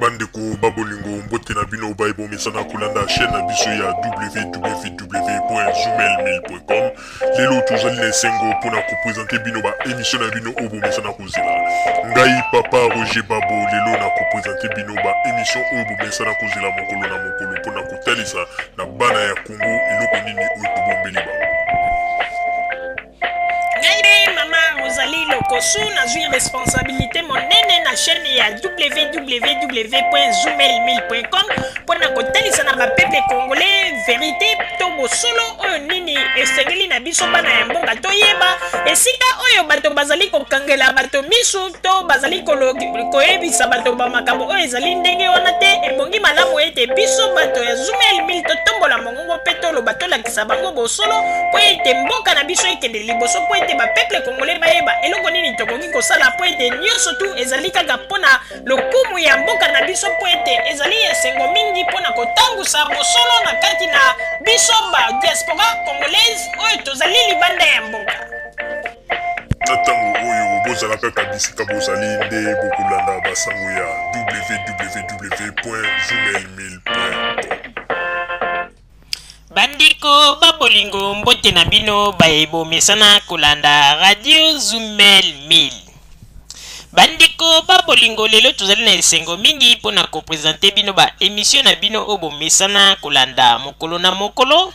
bandeko ba bolingo mbote na bino baye bomesana kolanda chaîne na biso ya www.zumelmail.com lelo tozali na esengo mpo na kopresente bino baemisio na bino oyo bomesana kozela ngai papa roger babo lelo na kopresente bino baemisio oyo bomesana kozela mokolo na mokolo mpo na kotalisa na bana ya kongo eloko nini oyo tobombeli bango Ngai mama Rosalie Lokosu nazwi responsabilité monene na chaîne ya www.zumel1000.com mpo na kotalisa na bapeple congolais verite to bosolo oyo nini esengeli na biso bana ya mboka toyeba esika oyo bato bazali kokangela bato miso to bazali koyebisa bato bamakambo oyo ezali ndenge wana te ebongi malamu ete biso bato ya Zumel 1000 totombola mongo Kongo mpe toloba tolakisa bango bosolo mpo ete mboka na biso ekende liboso mpo ete bapeple kongole bayeba eloko nini tokoki kosala mpo ete nyonso tu ezali kaka mpo na lokumu ya mboka na biso mpo ete ezali esengo mingi mpo na kotangusa bosolo na kati na biso ba diaspora congolaise oyo tozali libanda ya mboka Na ntango oyo bozala kaka bisika bozali nde bokolanda basango ya www.journalmail.com. Bandeko ba bolingo mbote na bino baye bomesana kolanda radio Zumel 1000. Bandeko ba bolingo lelo tozali na esengo mingi mpo na kopresente bino ba emisio na bino oyo bomesana kolanda mokolo na mokolo.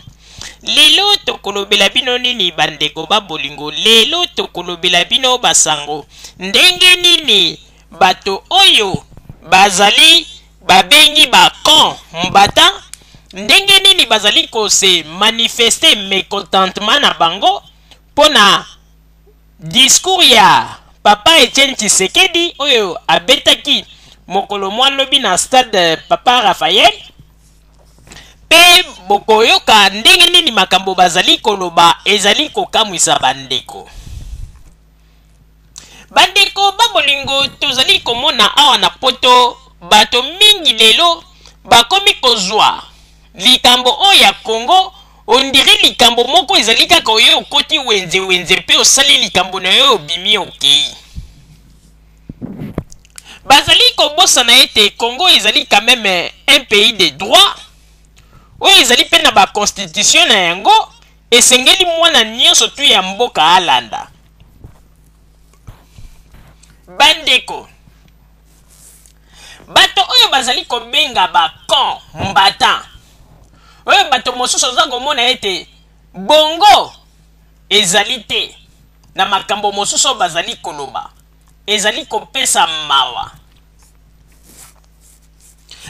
lelo tokolobela bino nini bandeko ba bolingo lelo tokolobela bino basango ndenge nini bato oyo bazali babengi bacon mbata ndenge nini bazali kose manifeste mecontentement na bango mpo na discours ya papa etienne tshisekedi oyo abetaki mokolo mwa lobi na stade papa raphael Mpe bokoyoka ndenge nini makambo bazali koloba ezali kokamwisa bandeko. Bandeko ba bolingo, tozali komona awa na poto bato mingi lelo bakomi kozwa likambo oyo ya Congo ondire likambo moko ezali kaka oyo okoti wenze wenze mpe osali likambo na yo obimi okei. bazali kobosana ete congo ezali quand meme un pays de droit oyo ezali mpe na baconstitution na yango esengeli mwana nyonso tu ya mboka alanda bandeko bato oyo bazali kobenga bacon mbatan oyo bato mosusu oza komona ete Bongo ezali te na makambo mosusu oyo bazali koloba? Ezali kopesa mawa.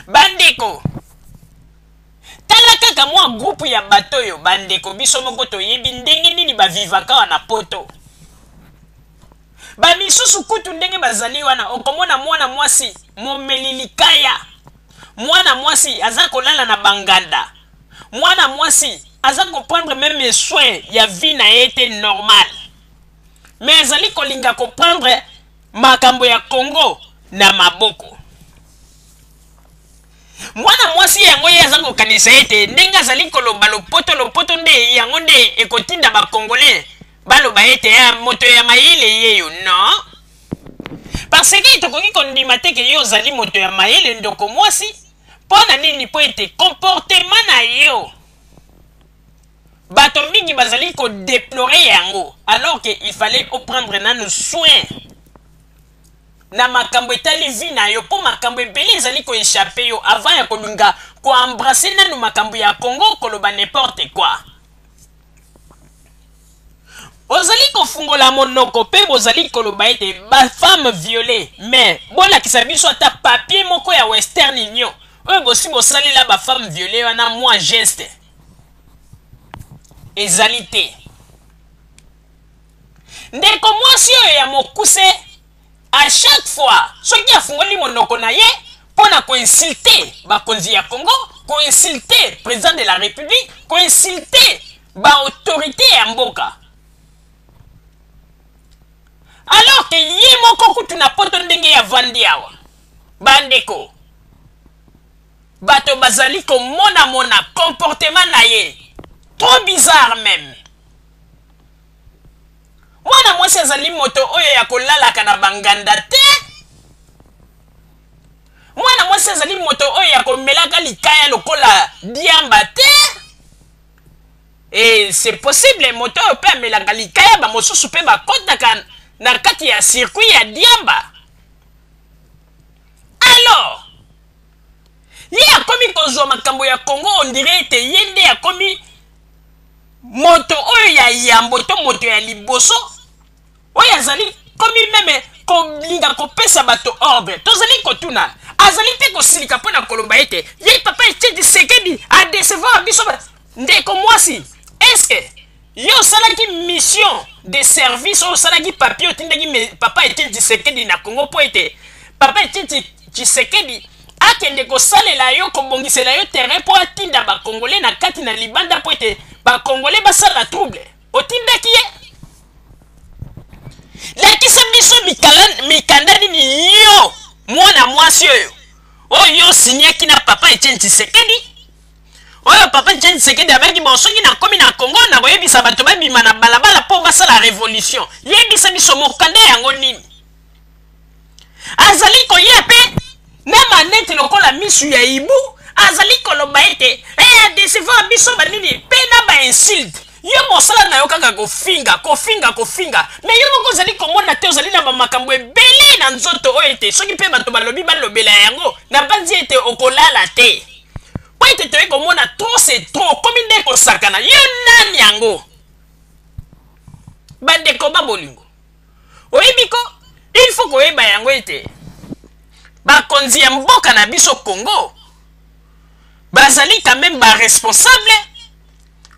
Bandeko, tala kaka mwa groupe ya bato oyo, bandeko biso moko toyebi ndenge nini bavivaka awa na poto. Bamisusu kutu ndenge bazali wana, okomona mwana mwasi momeli likaya, mwana mwasi aza kolala na banganda, Mwana mwasi aza comprendre meme soin ya vie na ye te normal mais azali kolinga koprendre makambo ya congo na maboko mwana mwasi yango ye aza kokanisa ete ndenge azali koloba lopoto lopoto nde yango nde ekotinda bacongolais baloba ete ya ah, moto ya mayele yeyo non parce que tokoki kondima te ke yo ozali moto ya mayele ndoko mwasi mpo na nini mpo ete comportement na yo bato mingi bazali kodeplore yango alors que il fallait oprendre nanu soin na makambo etali vi na yo mpo makambo ebele ezali koechappe yo avant ya kolinga koembrase nanu makambo ya congo koloba n'importe quoi ozali kofungola monoko mpe bozali koloba ete bafemme viole mais bolakisa biso ata papier moko ya western union oyo bosi bosalela bafemme viole wana mwa geste ezali te ndeko mwasi oyo ya mokuse A chaque fois soki afungoli monoko na ye mpo na ko insulter bakonzi ya Congo, ko insulter president de la Republique, ko insulter ba autorites ya mboka. Alors que ye moko kutu na poto ndenge ya vandi awa. Bandeko, bato bazali komona mona comportement na ye trop bizarre meme Mwana mwasi azali moto oyo ya kolalaka na banganda te. Mwana mwasi azali moto oyo ya komelaka likaya lokola diamba te. Et c'est possible moto oyo mpe amelaka likaya bamosusu mpe bakotaka na kati ya circuit ya diamba. Alors, ye akomi kozwa makambo ya congo ondire ete ye nde akomi moto oyo ya yambo to moto ya liboso oyo azali komi meme kolinga kopesa bato ordre tozali kotuna azali mpe kosilika mpo na koloba ete ye papa etiedi sekedi adecevoir biso ndeko mwasi eske Yo osalaki mission de service oyo osalaki papier otindaki papa Etienne Tshisekedi na Congo mpo ete papa Etienne Tshisekedi akende kosalela yo kobongisela yo terrain mpo atinda bakongole na kati na libanda mpo ete bakongole basala trouble otindaki ye lakisa biso mikanda nini yo mwana mwasi oyo oyo osinyaki na papa Etienne Tshisekedi oyo papa etienne sekedi abaki bo soki nakomi na congo nakoyebisa bato babima na balabala mpo basala revolution yebisa biso mokanda yango nini azali koya mpe na maneti lokola misu ya ibu azali koloba ete adesiva eh, biso banini mpe na bainsulte yo mosala na yo kaka kofinga kofinga kofinga me yo moko ozali komona te ozali na bamakambo ebele na nzoto oyo ete soki mpe bato balobi balobela yango nabanzi ete okolala te mpo ete toyei komona trop se trop okomi nde kosakana yo nani yango bandeko ba bolingo oyebi ko il faut koyeba yango ete bakonzi ya mboka na biso congo bazali quand même baresponsable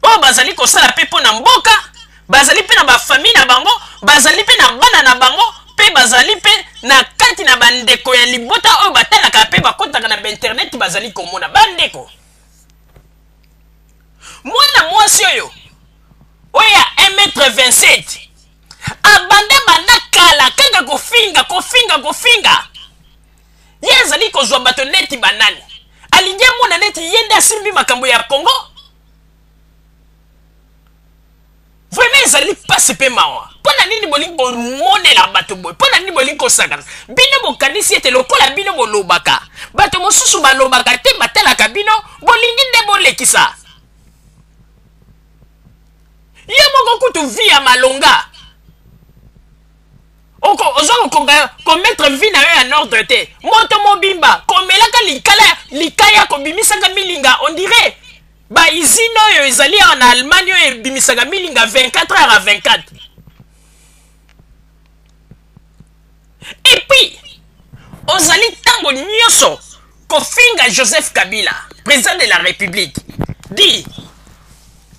oyo bazali kosala mpe mpo na mboka bazali mpe na bafamille na bango bazali mpe na bana na bango mpe bazali mpe na kati na bandeko ya libota oyo batalaka mpe bakotaka na bainternet bazali komona bandeko mwana mwasi oyo oyo ya 1 mètre 27 abanda banda kala kaka kofinga kofinga kofinga ye azali kozwa bato neti banani alingi amona neti ye nde asimbi makambo ya congo vraiment ezali mpasi mpe mawa mpo na nini bolingi komonela bato boye mpo na nini bolingi kosakana bino bokanisi ete lokola bino bolobaka bato mosusu balobaka te batalaka bino bolingi nde bolekisa yo moko kutu vi ya malonga oko oza kokonga komettre vie na yo en ordre te moto mobimba komelaka likala likaya kobimisaka milinga on dirait baizine oyo ezali awa na allemagne oyo ebimisaka milinga 24 heures à 24 epuis ozali ntango nyonso kofinga joseph kabila président de la république di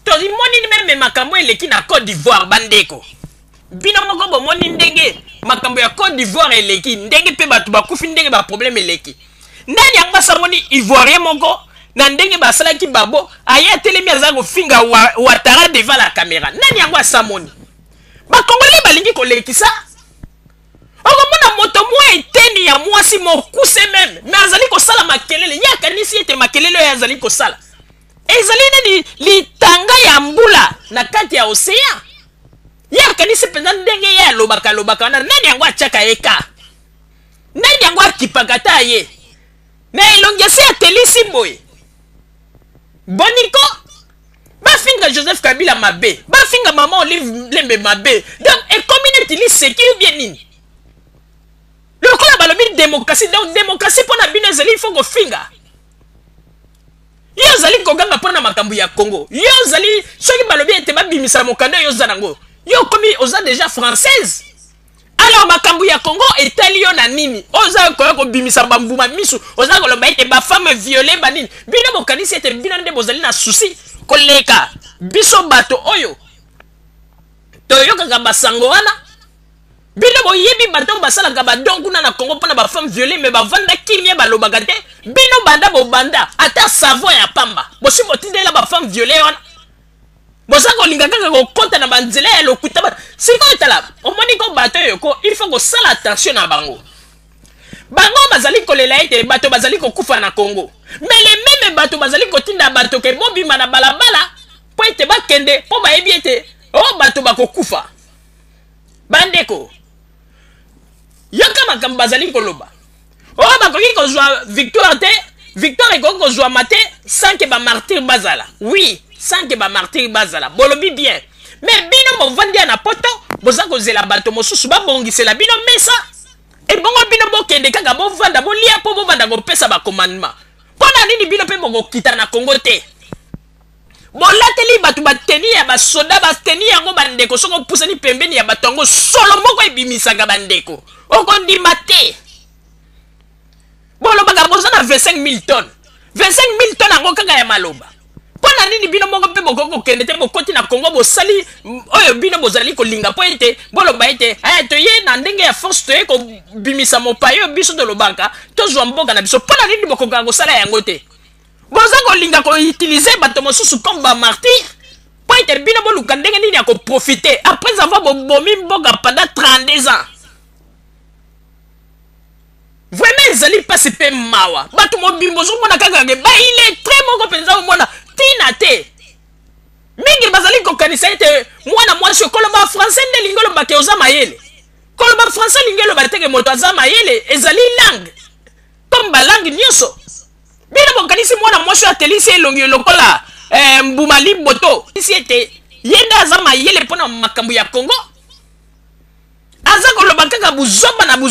tolimoni meme makambo eleki na côte d'ivoire bandeko bino moko bomoni ndenge makambo ya cote d'ivoire eleki ndenge mpe bato bakufi ndenge baproblème eleki nani yango asamoni ivoirien moko na ndenge basalaki babo aye atelemi aza kofinga wa, watara devant la caméra nani yango asamoni bakongole balingi kolekisa okomona moto mwa eteni ya mwasi mokuse meme me azali kosala makelele ye akanisi ete makelele oyo azali kosala ezali nani litanga ya mbula na kati ya ocean ye akanisi mpenza ndenge ye alobaka alobaka wana nani yango atyaka ye ka nani yango akipaka ata ye na elongi esi atelisi boye boniko bafinga joseph kabila mabe bafinga mama olive lembe mabe donc ekomi neti liseki ubie nini lokola balobi demokrasi donc demokrasi mpo na bino ezali ifo kofinga yo ozali koganga mpo na makambo ya congo yo ozali soki balobi ete babimisala mokanda yo oza nango yo okomi oza deja française alors makambo ya congo etali yo na nini oza koya kobimisa bambuma misu oza koloba ete bafame viole banini bino bokanisi ete bino nde bozali na susi koleka biso bato oyo toyokaka basango wana Bino boyebi bato oyo basalaka ba don kuna na Congo mpo na ba femme viole mais bavanda kimia balobaka te bino banda bobanda ata savon ya pamba bosi botindela ba femme viole wana boza kolinga kaka kokɔta na banzela ya lokuta ba sikoyo tala omoni ko bato oyo ko il faut kosala attention na bango bango bazali kolela ete bato bazali kokufa na Congo mais le meme bato bazali kotinda bato ke bobima na balabala mpo ete bakende mpo bayebi ete o oh, bato bakokufa bandeko yoka makambo bazali koloba oyo oh, bakoki kozwa victoire te victoire ekoki kozwama te sans ke bamartire bazala oui sans ke bamartire bazala bolobi bien me bino bovandi ya na poto boza kozela bato mosusu babongisela bino mesa ebongo bino bokende kaka bovanda bolia mpo bovanda kopesa bakomandema mpo na nini bino mpe bokokita na kongo te bolateli bato bateni ya basoda bateni yango bandeko soki opusani pembeni ya bato yango solo moko ebimisaka bandeko okondima te bolobaka boza na 25 000 tonnes 25 000 tonnes yango kaka ya maloba mpo na nini bino moko mpe bokoki kokende te bokoti na kongo bosali oyo bino bozali kolinga mpo ete boloba ete aya eh, toye na ndenge ya force toye kobimisa mopaye oyo biso tolobaka tozwa mboka na biso mpo na nini bokokaka kosala yango te boza kolinga koutilize bato mosusu comme bamartire mpo ete bino boluka ndenge nini ya koprofite après avoir bobomi mboka pendant 32 ans vraiment ezali mpasi mpe mawa bato mobimba ozomona kaka ke bailetre moko mpenza omona ntina te mingi bazali kokanisa ete mwana mwasi okoloba français nde elingi oloba ke oza mayele koloba français elingi oloba teke moto aza mayele ezali langue comme balangue nyonso bino bokanisi mwana mwasi oyo atelisi elongi lokola eh, mbuma liboto isi ete ye nde aza mayele mpo na makambo ya kongo aza koloba kaka buzoba na buzoba